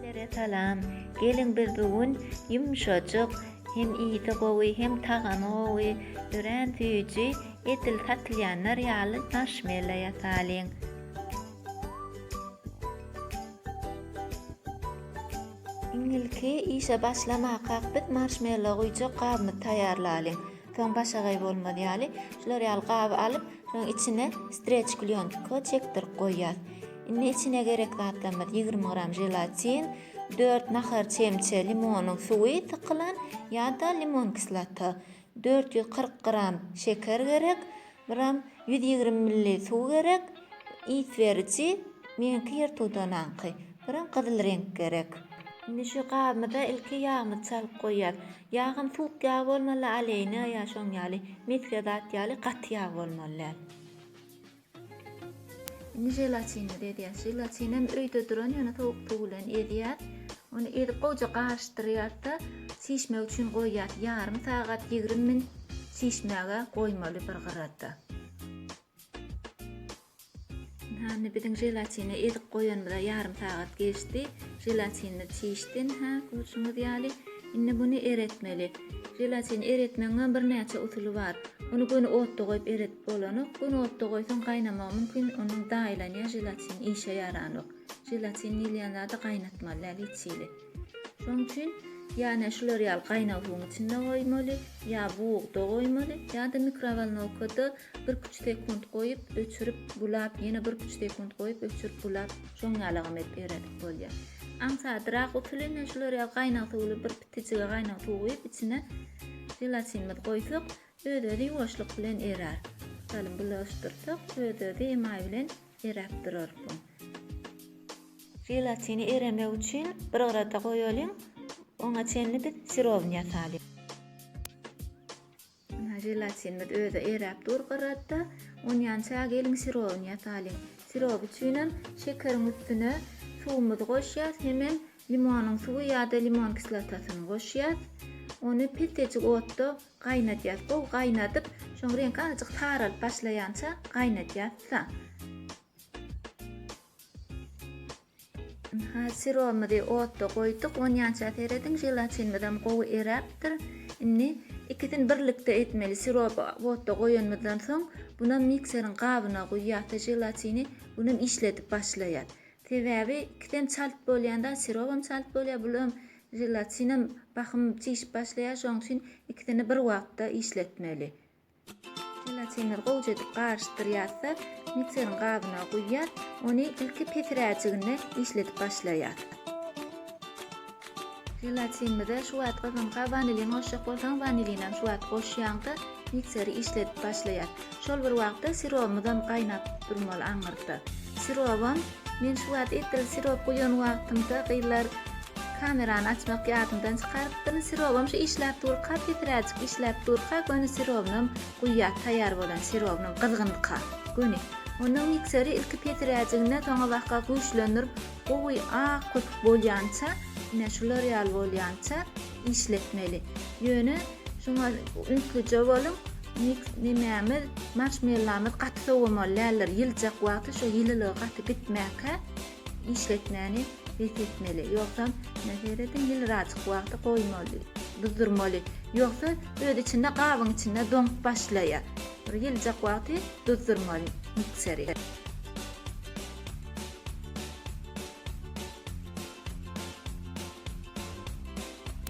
Hemmelere salam. Geliň biz bu gün ýumşajyk, hem ysy gowy, hem tagamy gowy, örän süýji edil satylýanlar ýaly marshmella ýasalyň. Iň ilki işe başlamakak biz marshmella guýjak gabymy taýýarlalyň. Soň başagaý bolmaz ýaly şular ýaly gaby alyp, şonuň içine streç klýontka çekdirip goýýas. Indi içine gerek zatlarymyz ýigrimi gram želatin, dört nahar çemçe limonyň suwy sykylan ýa-da limon kislota, dört ýüz kyrk gram şeker gerek, biram ýüz ýigrimi milli suw gerek, ys beriji, meňki ýer tudanaňky, biram gyzyl reňk gerek. Indi şu gabymyza ilki ýagymyzy çalyp goýýas. Ýagam suwuk ýag bolmaly, oleýne ýa şoň ýaly, mesge zat ýaly gaty ýag bolmaly däl. Indi želatinimizi edýäs. Želatin hem öýde duran, ýöne sowuk suw bilen ezýär. Ony ezip gowja garyşdyrýarsa, çişmek üçin goýýar. Ýarym sagat, 20 minut çişmäge goýmaly bir gyrada. Hany biziň želatini ezip goýanymyza ýarym sagat geçdi. Želatinimiz çişdi. Ha, görşüňiz ýaly. Indi muny eretmeli. Želatin eretmegiň hem birnäçe usuly bar. Ony göni otda goýup eret. Bolanok, göni otda goýsaň gaýnamagy mümkin, onuň daýylanýar želatin işe ýaranok. Želatin diýilýän zady gaýnatmaly däl hiç hili. Şoň üçin ýa ne şular ýaly gaýnag suwuň içinde goýmaly, ýa bugda goýmaly, ýa-da mikrowolnowkada birküç sekunt goýup, öçürip, bulap, ýene birküç sekunt goýup, öçürip, bulap, şoň ýalygam edip eredip bolýar. Aňsadrak usuly ne şular ýaly gaýnag suwly bir pitijige gaýnag suw guýup, içine želatinimizi goýsak, Öz-özi ýuwaşlyk bilen erär. Salym bulaşdyrsak, öz-özi emaý bilen eräp durar bu. Želatini eremek üçin bir gyrada goýalyň. Oňa çenli biz sirowyny ýasalyň. Ynha, želatinimiz özi eräp dur gyrada. Onýança geliň sirowyny ýasalyň. Sirow üçinem şekeriň üstüne suwumyzy goşýas, hemem Limonyň suwy ýa-da limon kislotasyny goşýas. Ony peltejik otda gaýnadýas. Gowy gaýnadyp, şoň reňki azajyk saralyp başlaýança gaýnadýas-da. Ynha, siromyzy otda goýduk. Onýança serediň, želatinimizem gowy eräpdir. Indi ikisini birlikde etmeli. Siroby otda goýanymyzdan soň, bunam mikseriň gabyna guýýas-da želatini, bunam işledip başlaýas. Sebäbi ikisem çalt bolýanda sirobam çalt bolýar bulam želatinam bahym çişip başlaýar şoň üçin ikisini bir wagtda işletmeli. Želatinleri gowja edip garyşdyrýarsa mikserin gabyna guýýar ony ilki pesiräjiginde işledip başlaýar. Želatinimize şu wagt gyzgynka wanilin goşjak bolsaň wanilinem şu wagt goşýaňda mikseri işledip başlaýar. Şol bir wagtda sirobymyzam gaýnap durmaly aňyrda. Sirobym men şu wagt etdil sirop guýan wagtymda gyzlar kamerany açmak ýadymdan çykarypdyryn. Sirobym şu işläp durka pesiräjik işläp durka göni sirobynam guýýas taýýar bolan sirobynam gyzgynka göni. Onda mikseri ilki pesiräjigine soňabaka güýçlendirip gowy ak köpük bolýança ine şular ýaly bolýança işletmeli. Ýöne şuňa ünslüje boluň. Mix nemämiz, marşmellamyz gaty sowamaly däldir. Ýyljak wagty şu ýylylygy gaty gitmäkä işletmäni bes etmeli. Ýogsam, ine serediň, ýylyrajyk wagty goýmaly, duzdurmaly. Ýogsa öz içinde gabyň içinde doňup başlaýar. Bir ýyljak wagty duzdurmaly mikseri.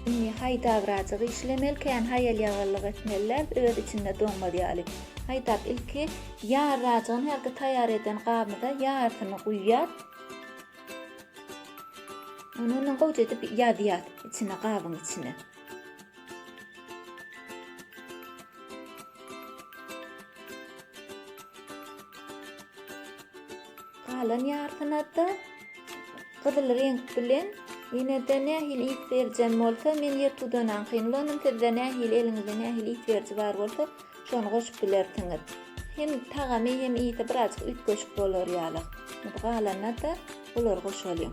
Indi haýdagrajyk işlemeli, kän haýal-ýagallyk etmeliler, öz içinde doňmaz ýaly. Haýdap ilki ýarrajygyny hälki taýýar eden gabymyza ýarsyny guýýas. Ony ondan gowja edip ýazýas içine gabyň içine. Galan ýarsyna-da gyzyl reňk bilen ýene-de nähili ýüz berijem bolsa, men ýertudanaňkyny ulandym, sizde nähili eliňizde nähili ýüz beriji bar bolsa, şony goşup bilersiňiz. Hem tagamy hem ýygy birazjyk üýtgeşik bolar ýaly. Galanyna-da bulary goşalyň.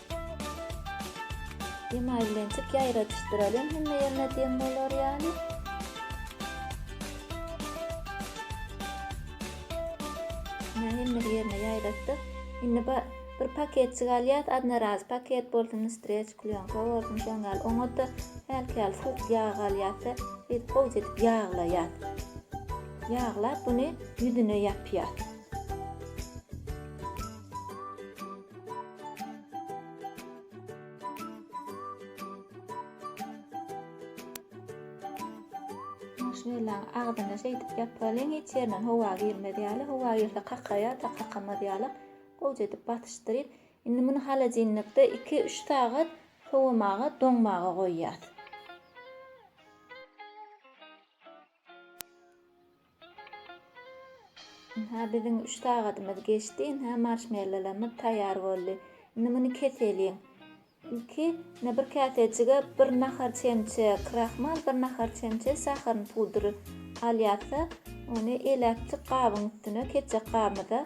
Emaý bilen çyk ýaýradyşdyralyň hemme ýerine deň bolar ýaly. Emaý hemme ýerine ýaýratdyk. Indi bir paketçik alýas, adna raz paket bolsun, streç klýonka bolsun, şoň ýaly oňa-da hälki ýaly suwuk ýag alýas-da, biz gowja edip ýaglaýas. Ýaglap, buny ýüzüne ýapýas. Maşynylaň agzyna şeýdip ýapylalyň, hiç ýerinden howa girmez ýaly, howa girse kakaýar-da, kakamaz ýaly gowyja edip basyşdyryp, indi muny holodilnikde iki-üç sagat sowamaga, doňmaga goýýas. Ynha, biziň üç sagadymyz geçdi. Ynha, marşmellolarymyz taýýar boldy. Indi muny keseliň. Ilki, ine, bir käsejige bir nahar çemçe krahmal, bir nahar çemçe saharyň pudry alýarys-da, ony eläkçik gabyň üstüne, kesjek gabymyza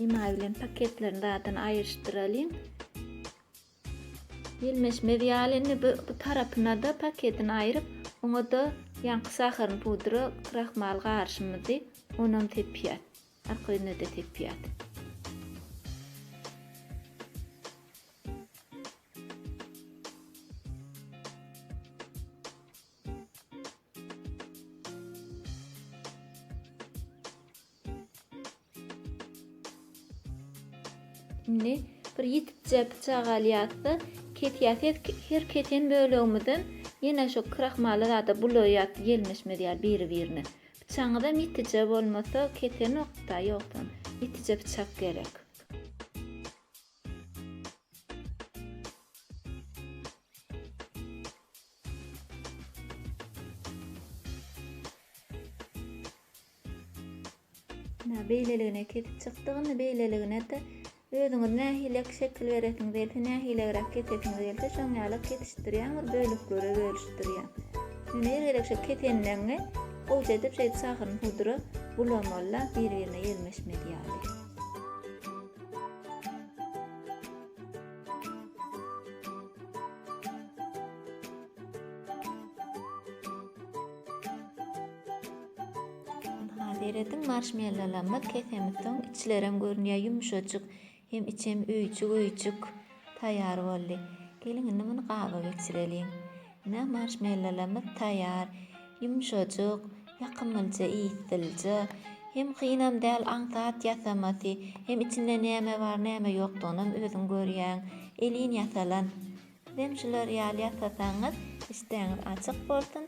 Emaý bilen paketlerini rahatdan aýryşdyralyň. Ýelmeşmez ýaly indi bu tarapyna-da paketini aýryp, oňa-da ýaňky saharyny pudra, krahmal garşymyzy onam sepýär. Arka ýüzüne-de sepýär. Indi bir ýitipje pyçak alýarys-da, kesýäs. Her, her kesen bölegimizem ýene şu krahmally zada bulaýýarys gelmişimiz ýaly biri-birine. Pyçagyňyzam ýitije bolmasa kesenok-da, ýogsam ýitije pyçak gerek. Ina beýleligine kesip çykdyk. Indi beýleligine-de özüňiz nähilek şekil beresiňiz gelse, nähilegräk kesesiňiz gelse şoň ýaly kesişdirýäň, bir bölüklere bölüşdirýäň. Indi her gezek şeýdip kesenleňňi gowşa edip şeýdip şahyryny pudra bulamaly-da, biri-birine ýelmeşmez ýaly. Seredin marshmallowlarymyz kesemiz soň içlerem görünýär ýumşajyk. Hem içem öýjük-öýjük taýýar boldy. Geliň indi muny gaba geçireliň. Ine marşmellolamyz taýýar. Ýumşajyk, ýakymlja ysylja. Hem kynam däl aňsat ýasamasy, hem içinde näme bar näme ýokdygynam özüň görýäň. Elin ýasalan. Sizem şular ýaly ýasasaňyz işdäňiz açyk bolsun,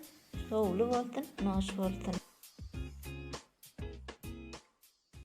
şowly bolsun, noş bolsun.